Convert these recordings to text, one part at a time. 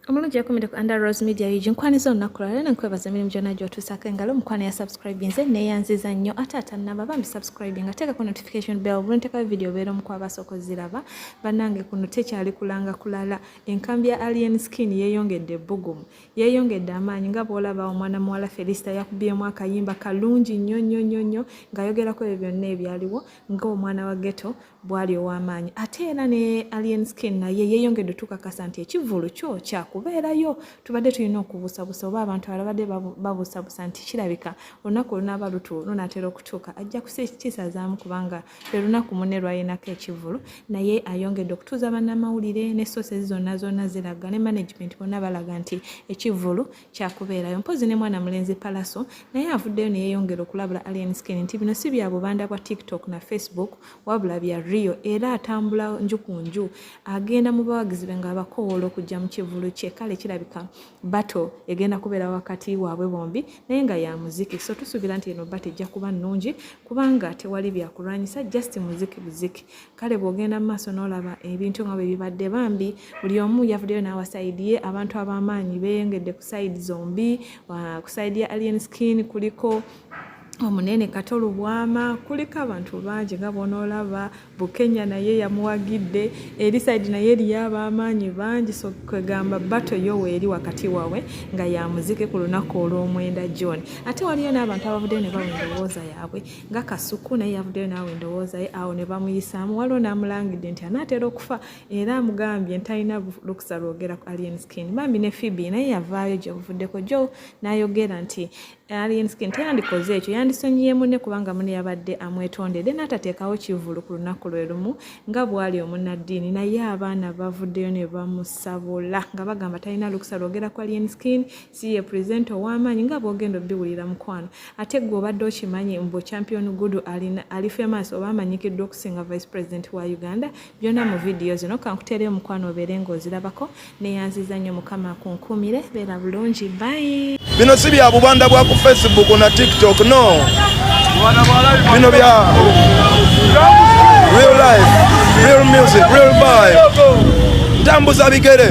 omulungi yakumidde ku under rose media ug nkwaniza olunaku lwalero nenkwebaza emirimu gyonna gyotuusako engalo omukwano ya subscribe nze neyanziza nnyo ate atannaba bambi subscribe nga teekako notification bell bulintekayo video obeera omu kwabasooka oziraba bannange kuno tekyali kulanga kulala enkambi ya alien skin yeeyongedde ebbugumu yeeyongedde amaanyi nga bwolaba omwana muwala felisita yakubyemu akayimba kalungi nnyo nnyo nnyo nnyo ng'ayogerako ebyo byonna ebyaliwo ng'omwana wa geto bwali ow'amaanyi ate era ne alien skin naye yeeyongedde tukakasa nti ekivvulu kyo kyakubeerayo tubadde tulina okubuusabusa oba abantu alabadde babuusabusa nti kirabika olunaku olunaaba lutu lunaatera okutuuka ajja kukisazaamu kubanga lwe lunaku munne lwalinako ekivvulu naye ayongedde okutuuza bannamawulire ne soosezi zonna zonna ziraga ne management bonna balaga nti ekivvulu kyakubeerayo mpozi ne mwana mulenzi palaso naye avuddeyo neyeyongera okulabula alien skin nti bino si bya bubanda bwa tiktok na facebook wabula bya rio era atambula nju ku nju agenda mu bawagizi be ng'abakowoola okujja mu kivulu kye kale kirabika bato egenda kubeera wakati waabwe bombi naye nga ya muziki so tusuubira nti eno bato ejja kuba nnungi kubanga tewali byakulwanyisa just muziki buziki kale bwogenda mu maaso n'olaba ebintu nga bwe bibadde bambi buli omu yavuddeyo n'awa sayidi ye abantu ab'amaanyi beeyongedde ku sayidi zombi ku sayidi ya alien skin kuliko omunene kato lubwama kuliko abantu bangi nga bonaolaba bukenya naye yamuwagidde eri saidi naye eriyo abamaanyi bangi so kwegamba bato yo weeri wakati wawe nga yamuzike ku lunaku olw'omwenda john ate waliyo n'abantu abavuddeyo ne bawa endowooza yaabwe nga kasuku naye yavuddeyo naawe endowooza ye awo ne bamuyisaamu waliwo n'amulangidde nti anaatera okufa era amugambye ntalina lukusa lwogera ku alien skin bambi ne fibi naye yavaayo gye buvuddeko jo n'ayogera nti alien skin teyandikoze ekyo yandisonyiye munne kubanga mune yabadde amwetondedde n'atateekawo kivulu ku lunaku lwe lumu nga bw'ali omunnaddiini naye abaana bavuddeyo ne bamusabula nga bagamba talina lukusa lwogera ku alien skin si ye presenter ow'amaanyi nga bw'ogenda obiwulira mukwano ate gwe obadde okimanyi mbu champion gudu alina ali famous oba amanyikiddwa okusinga vice president wa uganda byonna mu vidiyo zino kankuteereyo mukwano obeere ng'ozirabako neyanziza nnyo mukama akunkuumire beera bulungi bayi bino si bya bubanda bwa ku facebook na tiktok no bino bya real life real music real vibe ntambuza bigere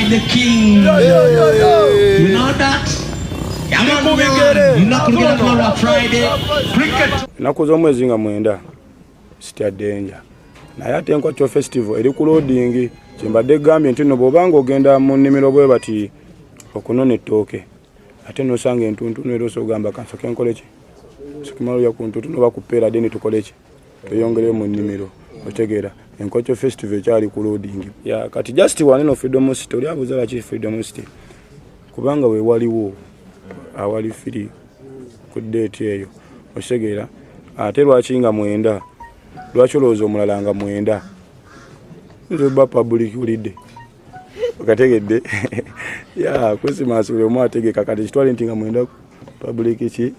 The king. Yo, yo, yo, yo. You know that? ennaku z'omwezi nga mwenda sitya denja naye ate enkwaco festival eri ku loading kyembadde gambye nti no bwoba nga ogenda mu nnimiro bwe bati okunona ettooke ate nosanga entuntunu era osogamba kansoke nkoleki sokimalolya ku ntuntunu oba kupeera deni tukoleki tweyongere mu nnimiro otegeera enkokyo festival ekyali ku loading ya kati just waneno freedom city oli abuuza laki freedom city kubanga we waliwo awali firi ku date eyo otegeera ate lwaki nga mwenda lwaki olowooza omulala nga mwenda nze ba public ulidde okategedde ya kusimansi buli omu ategeka kati kitwale nti nga mwenda public ki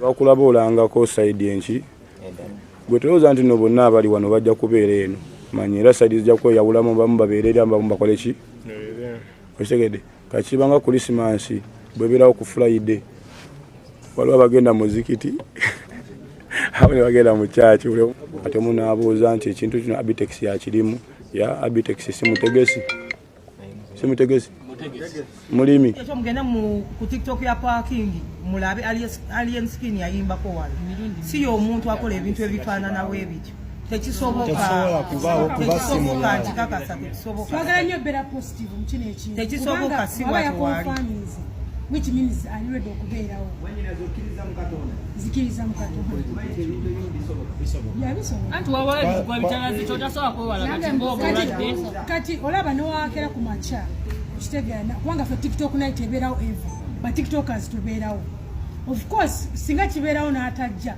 bakulaba olangako saidi enki gwe tolowooza nti no bonna abali wano bajja kubeera eno manya era saidi zijja kweyawulamu bamu babeerera bamu bakole ki okitegedde kakibanga kulisimansi bwebeerawo ku fulaide waliwo abagenda muzikiti awo ne bagenda mu kyaki ate omu naabuuza nti ekintu kino abitex yakirimu ya abitex simutegesi simutegesi mulimi ekyo mugenda mu ku tiktok ya parking mulabe alien skin yayimbako wano si y'omuntu akola ebintu ebifaananawo ebityo tekisoboka tekisoboka nkikakasa tekisoboka tekisoboka si watwali which means ali ready okubeerawo zikiriza mukatondakati olaba newakera ku makya okitegeana kubanga fe tiktok night ebeerawo eva batiktokas tubeerawo of course singa kibeerawo n'atajja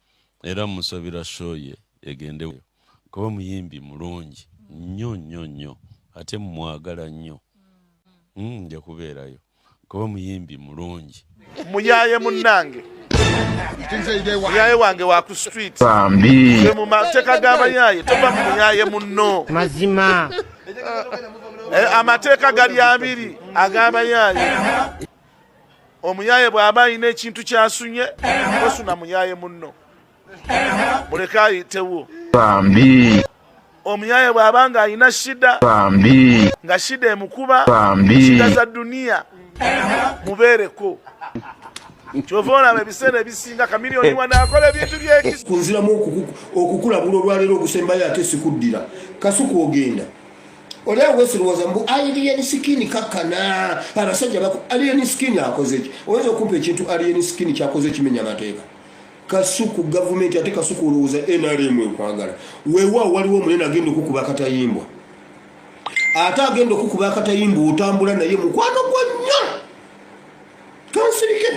era musabira show ye egende kuba muyimbi mulungi nnyo nnyo nnyo ate mwagala nnyo hmm, nja kubeerayo kuba muyimbi mulungi muyaye munange muyaye wange wa ku street mu mateeka g'abayaye tova mu muyaye munno mazima eh, amateeka gali abiri ag'abayaye omuyaye bw'aba alina ekintu kyasunye osuna muyaye munno muleke ayitewo bambi omuyaye bw'aba nga alina shida bambi nga shida emukuba bambi shida za duniya mubeereko kyova olaba ebiseera ebisinga kamiliyoni wanaakola ebintu byekunziramu okukulabula olwaleero ogusembayo ate sikuddira kasuku ogenda oli awo wesirowooza mbu alien skin kakkana abasajja baku alien skin akozeki oyinza okumpa ekintu alien skin kyakoze ekimenya amateeka kasuku gavumenti ate kasuku olowooza nrm ekwagala wewa waliwo omunene agenda okukuba akatayimbwa ate agenda okukuba akatayimbwa otambula naye mukwano gwa nnyo kansirike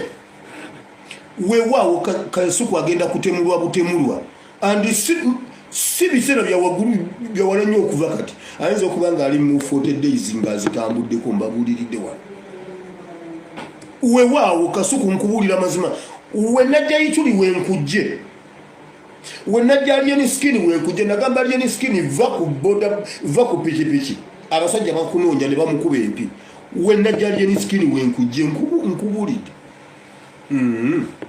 wewaawo kasuku agenda kutemulwa butemulwa and si biseera byawagulu byawala nnyo okuva kati ayinza okuba nga ali mu 40 days nga azitambuddeko mbabuuliridde wano wewaawo kasuku nkubuulira mazima wenajja yituli wenkujje wenajja lyeni skin wenkujje nagamba lyeni skin va ku boda va ku pikipiki abasajja bakunoonya ne bamukuba empi wenajja lyeni skin wenkujje nkubuulidde mm -hmm.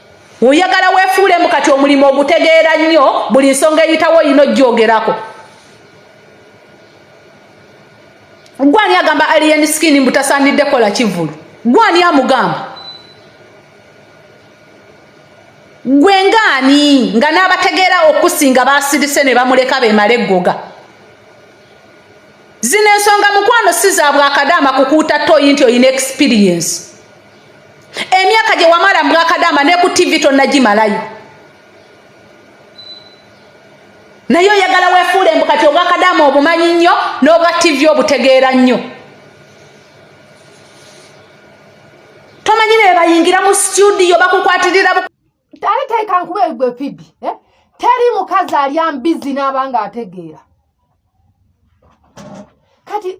oyagala wefuulemu kati omulimu ogutegeera nnyo buli nsonga eyitawo olina ojjoogerako gwani agamba alien skin mbu tasaanidde kola kivulu gwani amugamba gwe ngaani nga n'abategeera okusinga basirise ne bamuleka bemala eggoga zino ensonga mukwano si za bwakadaama kukuuta toyi nti olina experience emyaka gye wamala mbwakadaama ne ku tivi tonnagimalayo naye oyagala wefuula embu kati obwakadaama obumanyi nnyo n'obwa tivi obutegeera nnyo tomanyi naye bayingira mu situdiyo bakukwatirira ali teekankuba egwe fibi eh? teri mukazi alya mbizi n'abanga ategeera kati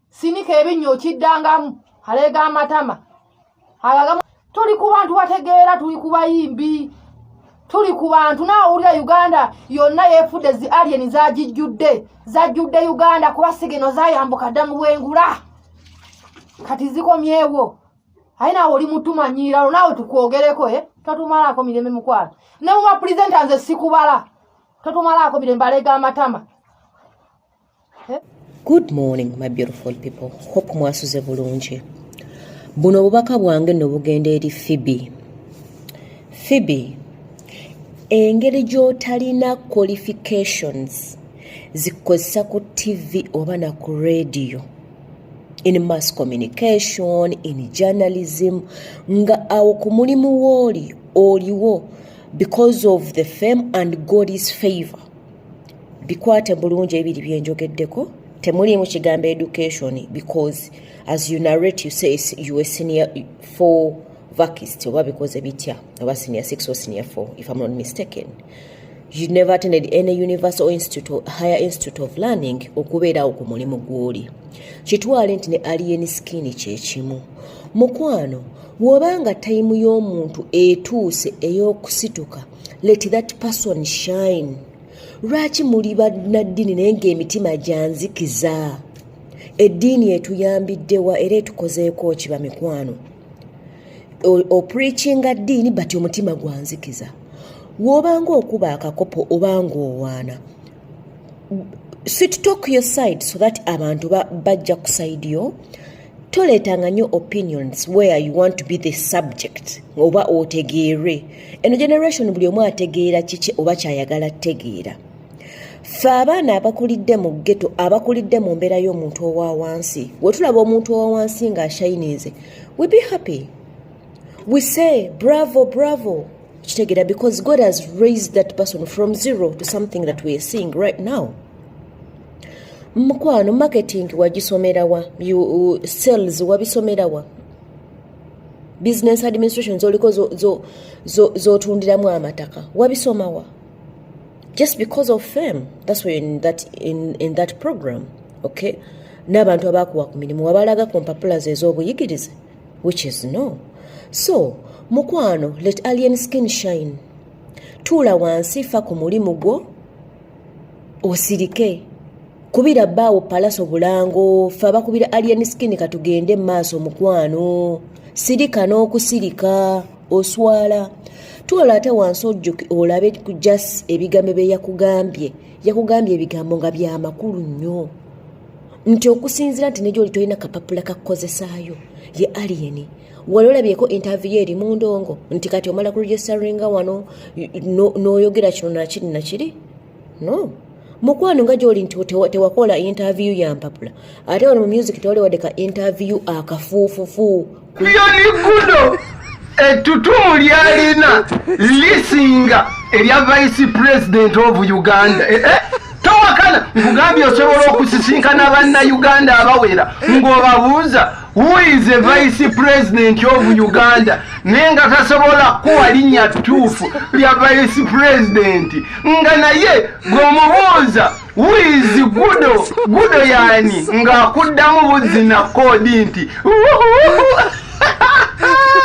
sinika ebinnyo okiddangamu aleega amatama agagamu tuli ku bantu bategeera tuli ku bayimbi tuli ku bantu naawulira uganda yonna yeefudde zi alien zagijjudde zajjudde uganda kuba sigeno zayambuka dda mu bwengula kati zikomyewo aye naawe oli mutumanyiiralo naawe tukwogereko e eh? totumalaako mirembe mukwano ne muba pulezenta nze sikubala totumalaako mirembe aleega amatama Good morning my beautiful people hope mwasuze bulungi buno obubaka bwange no bugenda eri Phoebe Phoebe engeri gy'otalina qualifications zikozesa ku TV oba na ku radio in mass communication in journalism nga awo ku mulimu wooli oliwo because of the fame and God's favor bikwate bulungi ebiri byenjogeddeko temuliimu kigambo education because as you narrate you say you a senior four vakist oba bikoze bitya oba senior six or senior four if i'm not mistaken you never attended any university or institute or higher institute of learning okubeerawo ku mulimu gw'oli kitwale nti ne alien skin kyekimu mukwano wobanga tayimu y'omuntu etuuse ey'okusituka let that person shine lwaki muli bannaddini naye ng'emitima gyanzikiza eddiini etuyambiddewa era etukozeeko kiba mikwano opreachinga ddiini but omutima gwanzikiza wobanga okuba akakopo obanga owaana sit talk your side so that abantu bajja ku side yo toleetanga nnyo opinions where you want to be the subject oba otegeerwe eno generation buli omu ategeera kiki oba kyayagala tegeera ffe abaana abakulidde mu ggeto abakulidde mu mbeera y'omuntu owa wansi we tulaba omuntu owa wansi ng'ashayinize we be happy we say bravo bravo kitegeera because god has raised that person from zero to something that weare seeing right now mukwano marketing wagisomerawa uh, sales wabisomerawa business administration zoliko zotundiramu zo, zo, zo amataka wabisomawa just because of fame that's why in that, in, in that program okay n'abantu abakuwa ku mirimu wabalaga ku mpapula ze ez'obuyigirize which is no so mukwano let alien skin shine tuula wansi fa ku mulimu gwo osirike kubira baawo palaso bulango fe abakubira alien skin katugende maaso mukwano sirika n'okusirika oswala twala ate wansi ojjuki olabe ku jas ebigambo bye yakugambye yakugambye ebigambo nga byamakulu nnyo nti okusinzira nti nejo oli tolina kapapula kakukozesaayo ye aliyeni wali olabyeko interview eri mu ndongo nti kati omala ku registaringa wano n'oyogera kino nakiri nakiri no mukwano nga gyoli nti tewakola interview ya mpapula ate wano mu music tewaliwodde ka interview akafuufufu yonigudo ettutumu lyalina lisinga erya vice president of uganda eh, eh, towakana nkugambye osobola okusisinkana banna uganda abawera ng'obabuuza Who is the vice president of Uganda? Nenga tasobola kuwa linya tufu ya vice president. Nga na ye gomubuza. Who is gudo? Gudo yani. Nga kudamu buzi na kodi nti.